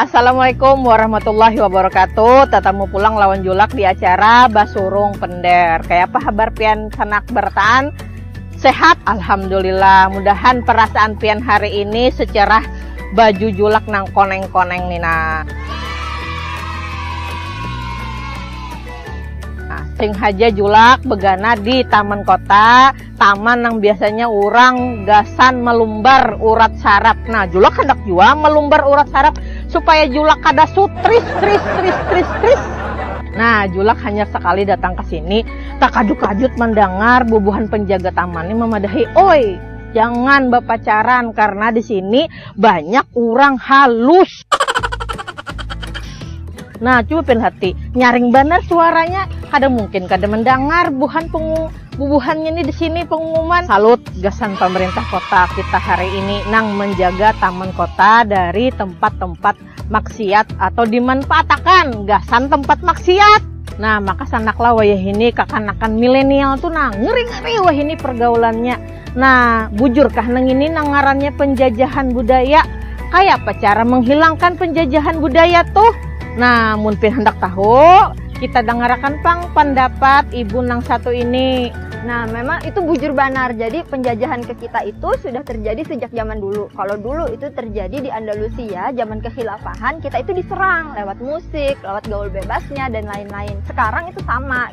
Assalamualaikum warahmatullahi wabarakatuh Tatamu pulang lawan Julak di acara Basurung Pender Kayapa habar pian sanak barataan? Sehat? Alhamdulillah Mudahan perasaan pian hari ini secerah baju Julak nang koneng-koneng ni nah Sing haja Julak begana di taman kota Taman nang biasanya urang gasan malumbar urat saraf. Nah, Julak handak jua malumbar urat saraf supaya Julak kada sutris tris tris tris tris. Nah, Julak hanyar sakali datang ka sini, takajut-kajut mandangar bubuhan panjaga taman ni mamadahi, Oi, jangan bapacaran karna di sini banyak urang halus. Nah, coba pil hati. Nyaring banar suaranya. Kada mungkin kada mendengar buhan pengu bubuhannya ini di sini pengumuman. Salut gasan pemerintah kota kita hari ini nang menjaga taman kota dari tempat-tempat maksiat atau dimanfaatakan gasan tempat maksiat. Nah, maka sanaklah wayah ini kakanakan milenial tuh nah ngeri-ngeri wah ini pergaulannya. Nah, bujurkah nangini nang ngarannya penjajahan budaya? Kayapa cara menghilangkan penjajahan budaya tuh? Nah, mun pin handak tahu, kita dangarakan pang pandapat ibu nang satu ini. Nah, memang itu bujur banar. Jadi penjajahan ke kita itu sudah terjadi sejak zaman dulu. Kalau dulu itu terjadi di Andalusia, zaman kehilafahan, kita itu diserang lewat musik, lewat gaul bebasnya dan lain-lain. Sekarang itu sama.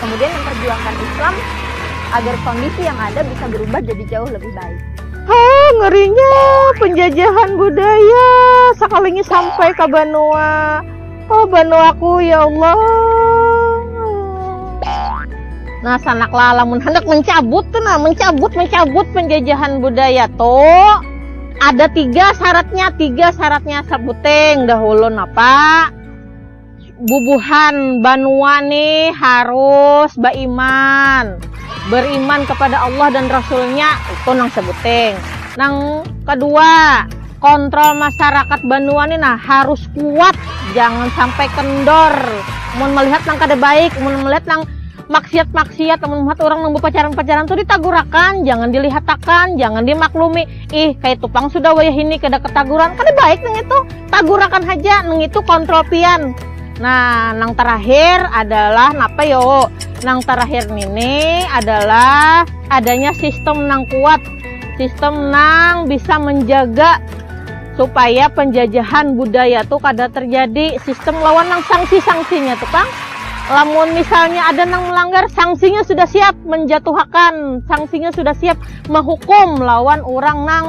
kemudian memperjuangkan Islam agar kondisi yang ada bisa berubah jadi jauh lebih baik. Ha, ngerinya penjajahan budaya sekalinya sampai ke Banua. Oh, Banuaku ya Allah. Nah, sanak lamun hendak mencabut tuh nah, mencabut mencabut penjajahan budaya tuh ada tiga syaratnya, tiga syaratnya sebuting dahulu napa? bubuhan banua nih harus baiman beriman kepada Allah dan Rasulnya itu nang sebuting nang kedua kontrol masyarakat banua nih nah harus kuat jangan sampai kendor mun melihat nang kada baik mun melihat nang maksiat-maksiat mun melihat orang nang bepacaran-pacaran tuh ditagurakan jangan dilihatakan jangan dimaklumi ih kaitu pang sudah wayah ini kada ketaguran kada baik nang itu Tagurakan haja nengitu kontrol pian. Nah, nang terakhir adalah napa yo? Nang terakhir nini adalah adanya sistem nang kuat, sistem nang bisa menjaga supaya penjajahan budaya tu kada terjadi, sistem lawan nang sanksi-sanksinya tu pang. Lamun misalnya ada nang melanggar, sanksinya sudah siap menjatuhakan, sanksinya sudah siap menghukum lawan orang nang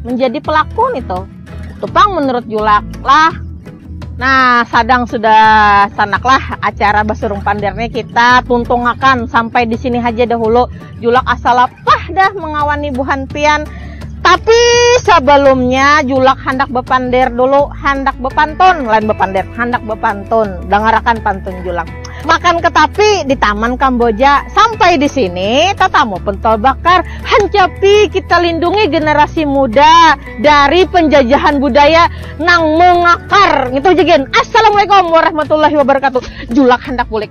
menjadi pelaku nih tuh tupang menurut julak lah nah sadang sudah sanaklah acara basurung pandirnya kita tuntungakan sampai di sini aja dahulu julak asal lapah dah mengawani buhan pian tapi sebelumnya julak handak bepandir dulu handak bepantun lain bepandir handak bepantun dangarakan pantun julak Makan ketapi di taman Kamboja. Sampai di sini tatamu pentol bakar. Hancapi kita lindungi generasi muda dari penjajahan budaya nang mengakar. Ngitu haja gin. Assalamualaikum warahmatullahi wabarakatuh. Julak handak bulik.